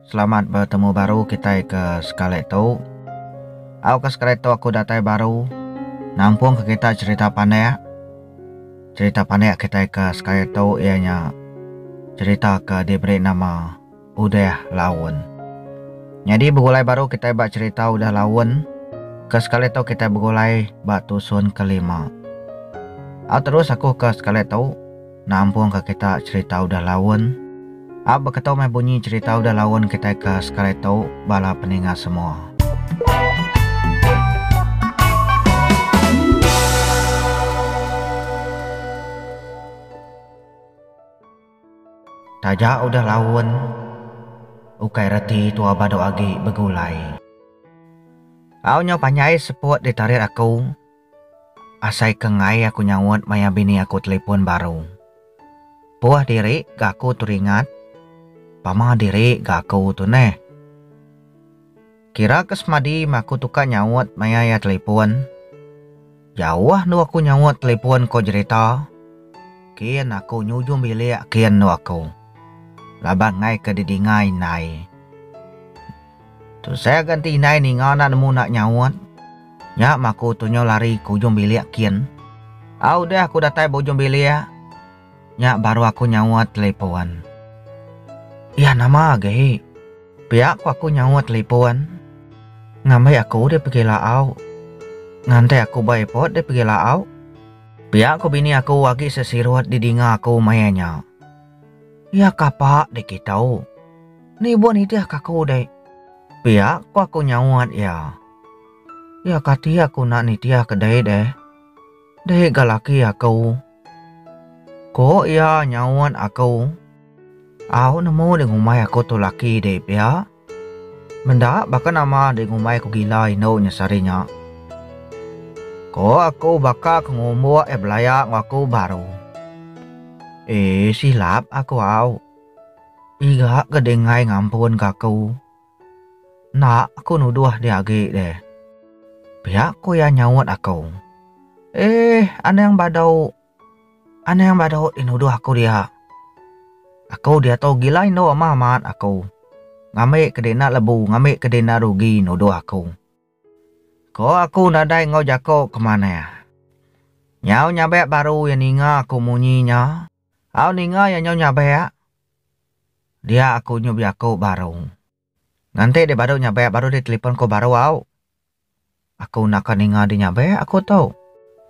Selamat betemu baru kitai ke sekali tu. Au ke sekali tu aku datai baru nampung ke kita cerita pandik. Cerita pandik kitai ke sekali tu iya nya cerita ke diberi nama Udah Laun. Nyadi begulai baru kitai ba cerita Udah Laun. Ke sekali tu kitai begulai ba tusun ke lima. Au terus aku ke sekali tu. nampungka kita cherita udah laun. Ap beketu meh bunyi cherita udah laun kitai ke sekali tu bala peninga semua. Taja udah laun, ukai reti tua badu agi begulai. Au nyau panjai seput ditarit aku. Asai ke enggai aku nyaut maya bini aku telefon baru. Puh diri ga aku tu ringat. Pama diri ga aku tu neh. Kira ke semadi meh aku tukar nyaut maya iya telefon. Jauh endu aku nyaut telefon ko Jerita. Kin aku nyujung bilik kin endu aku. Laban enggai ke didingai indai. Tu saya ganti indai ninga enda nemu enda nyaut. Nya maku tu nyau lari ke ujung bilik kin. Au deh aku datai ba ujung bilik. Nya baru aku nyaut telipun. Iya nama agi? Pia ku aku nyaut telipun. Ngambi aku deh pegi laau. Nganti aku ba airport deh pegi laau. Pia ku bini aku agi sesirut didinga aku maya nya. Iya kapa deh kitu. Ni buah nitihka aku dek. Pia ko aku nyaut iya. Iya kati aku enda nitihka dek deh. Dek ga laki aku. Ko iya nyaut aku. Au nemu di ngumbai aku tu laki dek pia. Menda baka nama di ngumbai aku gila indu nya sehari nya. Ko aku baka ke ngumbuk iya belaya enggau aku baru. Eh silap aku au. Iga ke Dinggai ngampun ka aku. Enda aku nuduh dia agi deh. Pia ku iya nyaut aku. Eeh anang badu. Anang badu ti nuduh aku dia. Aku diatu gila indu meh amat aku. Ngambi ke dina lebu ngambi ke dina rugi nuduh aku. Ko aku nadai enggau jako ke manah. Nyau nyabek baru iya ninga aku munyi nya. Au ninga iya nyau nyabek. Dia aku nyu biaku baru. Nganti dia badu nyabek baru dia telipon ko baru au. Aku enda ka ninga dia nyabek aku tu.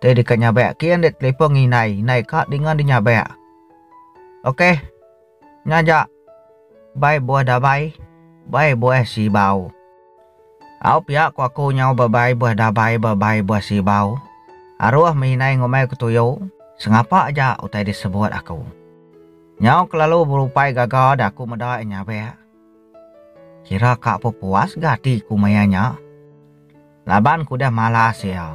Ti deka nyabek kin dia telipon ngi indai, indai ka dinga dia nyabek. Ok. Nya aja. Bai buah dabai, bai buah sibau. Au pia ku aku nyau bebai beh dabai bebai beh sibau. Aruh mehinai ngumbai ku tuyu, sengapa aja utai disebut aku. Nyau kelalu berupai gaga da aku meda iya nyabek. Kira ka apa puas ga ati ku maya nya. Laban ku udah malas iya.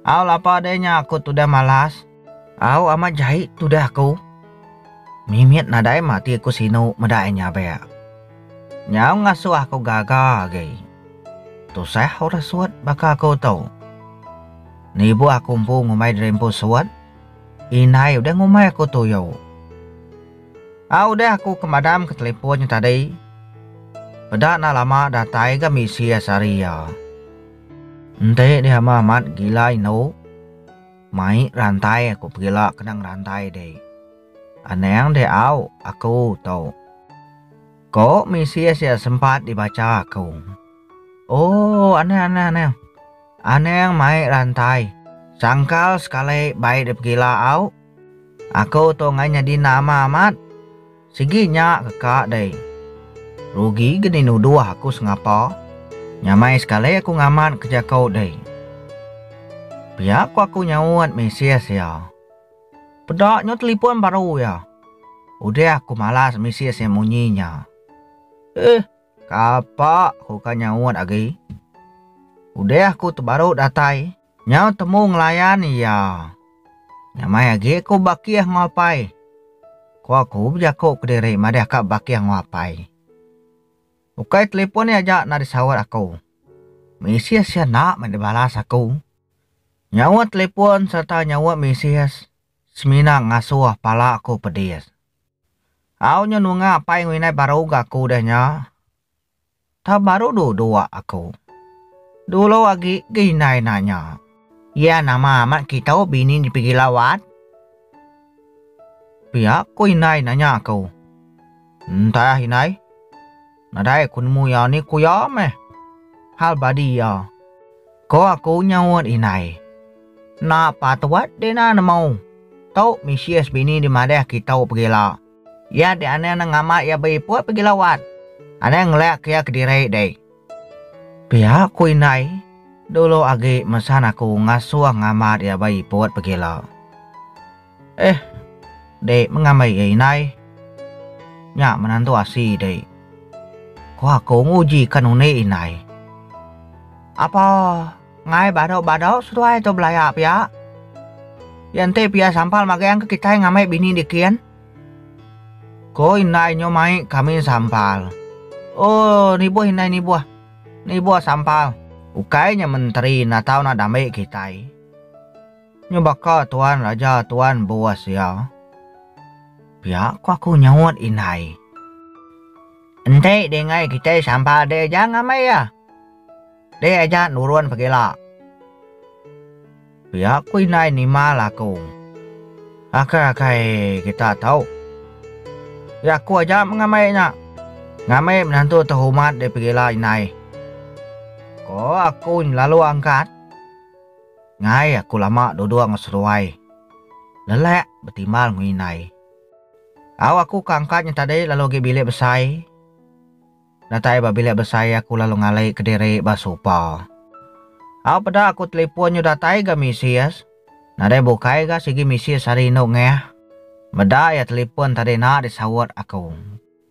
Au lapa deh nya aku tudah malas. Au amat jai tudah aku. Mimit nadai mati aku sinu meda iya nyabek. Nyau ngasuh aku gaga agi. Tusah orang sut baka aku tu. Nibuh aku empu ngumbai diri empu sut, indai udah ngumbai aku tuyu. Au udah aku ke madamka telefon nya tadi, peda enda lama datai ga misi iya sehari iya. Enti dia meh amat gila indu. Mai rantai aku pegila kenang rantai deh. Anang deh au aku tu. Ko misis ya sempat dibaca aku. Oh anang anang anang. Anang mai rantai. Sangkal sekali bai deh pegila au. Aku tu ngai nyadi nama amat. Sigi nya ke ka deh. Rugi geni nuduh aku sengapa. Nyamai sekali aku ngamat ke jaku deh. Pia ku aku nyaut mesej iya. Peda nyu telefon baru iya. Udah aku malas mesej iya munyi nya. Eeh kapa aku ka nyaut agi. Udah aku tebaru datai. Nyau temu ngelayan iya. Nya mai agi aku bakih enggau apai. Ku aku bejaku kediri madah ka bakih enggau apai. Ukai telipon iya aja enda disaut aku. Mesej iya enda meh dibalas aku. Nyaut telipon sereta nyaut mesej semina ngasuh pala aku pedis. Au nyau nunga apai enggau indai baru ga aku udah nya. Tau baru du dua aku. Dulu agi ga indai nanya. Iya nama amat kitu bini dipigi lawat? Pia ko indai nanya aku. Entah indai. Nadai ku nemu iya ni ku iya meh. Hal badi iya. Ko aku nyaut indai. Enda patut dina nemu. Tu misis bini dimadahka kitu pegila. Iya ti anang nang ngama iya beiput pagi lawat. Anang ngelak iya kediri deh. Pia ku indai, dulu agi mesan aku ngasuh ngamat iya beiput pagila. Eh, dek mengamai iya indai. Nya menantu asi dek. Ku aku nguji ka nunik indai. Apa? Ngai badau-badau seduai tu belaya pia. Iya enti pia sampal magang engka kitai ngamai bini dikin. Ko indai nyo mai kami sampal. Oh nibuh indai nibuh. Nibuh sampal. Ukai nya menteri enda tau nak dambe kitai. Nyo baka tuan raja tuan bos iya. Pia ko aku nyaut indai. Enti deh ngai kitai sampal deh aja ngamai iya. Deh aja nurun pegila. Pia ku indai nimal aku. Akai akai kita tau. Ya aku aja mengamai nya. Ngamai menantu tehumat deh pegila indai. Ko aku lalu angkat. Ngai aku lama duduk enggau seruai. Lelak betimbal enggau indai. Au aku ka angkat nya tadi lalu gi bilik besai. Datai ba bilik besai aku lalu ngalai kediri ba sopa. Au peda aku telipon nyu datai ga misis. Nadai bukai ga sigi misis ari indu Ngah. Meda iya telipon tadi enda disaut aku.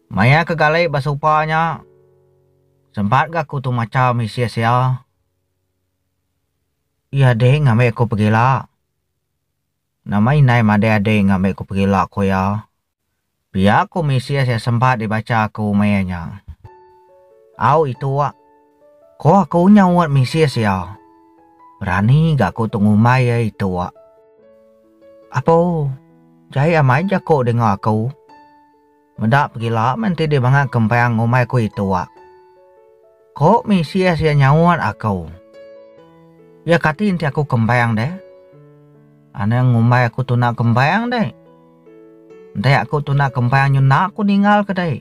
Maya ke gali ba sopa nya sempat ga aku tu macha misis iya. Iya ding ngambi aku pegila. Nama indai madai ading ngambi aku pegila ku iya. Pia ku mesej iya sempat dibacha aku meh iya nya. Au itu wak. Ko aku nyau ngut mesej iya. Berani ga aku tu ngumbai iya itu wak. Apo, jai amai jako denga aku. Meda pegila menti dibanga kempang ngumbai aku itu wak. Ko Mesias iya nyaut aku, Iya kati enti aku kembang deh? Anang ngumbai aku tuna kembang deh? Enti aku tuna kembang nyu enda aku ninggal ke deh?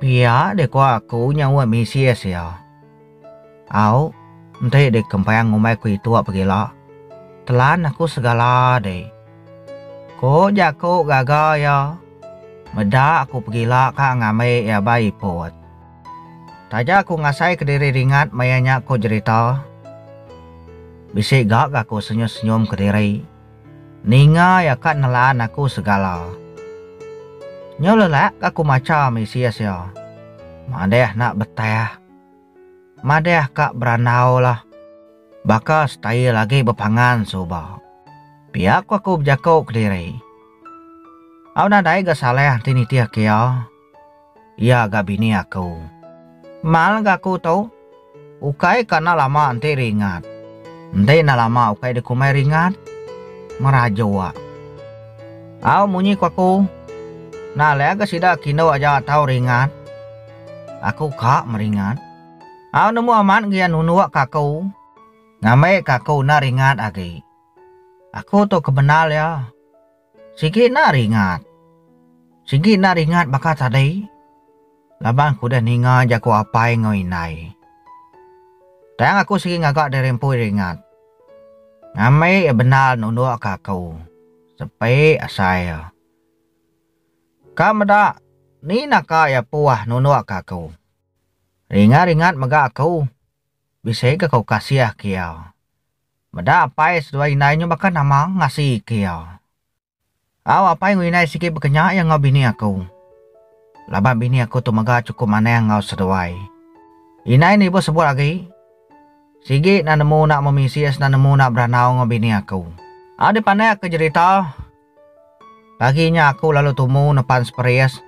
Pia deh ko aku nyaut Mesias iya. Au, enti deh kembang ngumbai ku itu pegila, telan aku segala deh. Ko jaku gaga iya, Meda aku pegila ka ngambi iya ba iput. Taja aku ngasai kediri ringat maya nya ko jerita. Bisi ga ga ko senyum senyum kediri. Ninga ya ka nelan aku segala. Nyu lelak ga ko macha misis ya. Madeh nak betah. Madeh ka berandau la. Baka style agi bepangan suba. Pia ko aku bejako kediri. Au nadai ga salah enti nitih ke ya. Iya ga bini aku. Mal ga aku tu. Ukai ka enda lama enti ringat. Enti enda lama ukai dikumbai ringat. Merajua. Au munyi ku aku. Nah leh ga sida kindu aja tau ringat. Aku ka meringat. Au nemu amat gia nunduk ka aku. Ngambi ka aku enda ringat agi. Aku tu kebendar iya. Sigi enda ringat. Sigi enda ringat baka tadi. Laban aku udah ninga jaku apai enggau indai. Tang aku sigi ngaga diri empu ringat. Ngambi iya bendar nundukka aku sepi asai iya. Ka meda ni naka iya puah nundukka aku. Ringat-ringat mega aku bisi ke aku kasih ke iya. Meda apai seduai indai nyu baka nama ngasika iya. Au apai enggau indai sigi bekenya iya enggau bini aku. Laban bini aku tu mega chukup manah enggau seduai. Indai nibuh sebut agi, Sigi enda nemu enda memisi enda nemu enda berandau enggau bini aku. Au dipandai aku jerita. Pagi nya aku lalu tumu nepan Spries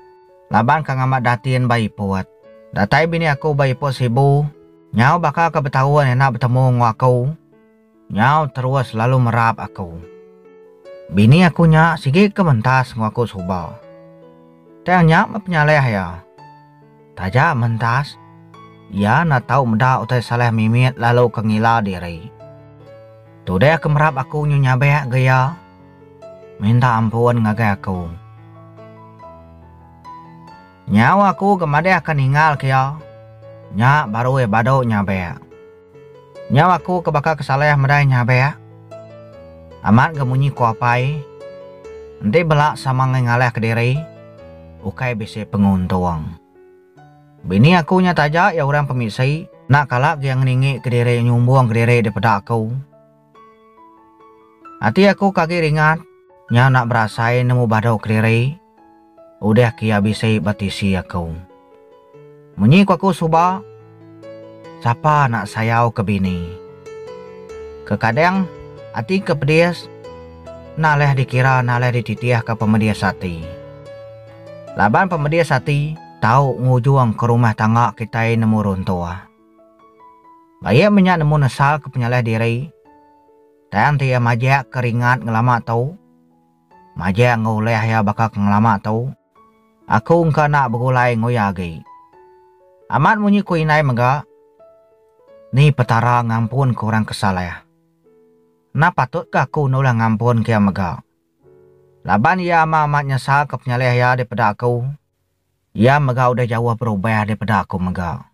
laban ka ngambat datin ba iput. Datai bini aku ba iput Sibu nyau baka ke betaun enda betemu enggau aku nyau terus lalu merap aku. Bini aku nya sigi ke mentas enggau aku suba. Tang nya meh penyalih iya. Taja mentas, iya enda tau meda utai Saleh mimit lalu ke ngila diri. Tudeh ke merap aku nyu nyabek ga iya minta ampun ngagai aku. Nyau aku ga madahka ninggalka iya, nya baru iya badu nyabek. Nyau aku ke baka ke salah medai nyabek. Amat ga munyi ko apai. Enti bela sama ngai ngalah ke diri, ukai bisi penguntung. Bini aku nya taja iya orang pemisi, enda kala gia ngeningi ke diri nyumbung ke diri dipeda aku. Ati aku ke agi ringat nyau enda berasai nemu badu keliri udah ke iya bisi ba tisi aku. Munyi ku aku suba, sapa enda sayau ke bini. Kekadang ati ke pedis enda leh dikira enda leh dititih ke pemedis ati. Laban pemedis ati tau ngujung ke rumah tangga kitai nemu runtuh. Baik menya nemu nesal ke penyalih diri, tang ti iya majak ke ringat ngelama tu, majak enggau ulih iya baka ke ngelama tu, aku engka enda begulai enggau iya agi. Amat munyi ku indai mega, Ni Petara ngampunka orang ke salah. Enda patutka aku enda ulih ngampunka iya mega. Laban iya amat-amat nyesalka penyalih iya dipeda aku. Iya mega udah jauh berubah daripada aku mega.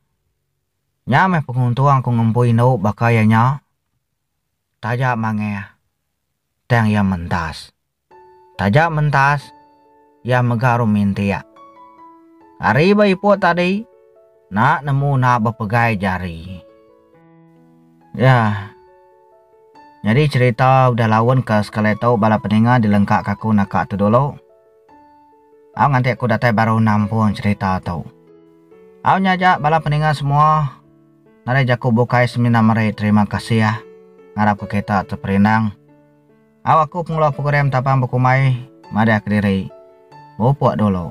Nya meh penguntung aku ngempu indu baka iya nya. Taja mangah, tang iya mentas. Taja mentas, iya mega rum mintik. Ari ba ipoh tadi, enda nemu enda bepegai jari. Nya nyadi cherita udah laun ke sekali tu bala peninga dilengkaka aku naka tu dulu. Au nganti aku datai baru nampung cherita tu. Au nya aja bala peninga semua nadai jaku bukai semina meri terima kasih ngarap ke kita teperindang. Au aku pengeluar program tapang bekumbai madah kediri. Bupuk dulu.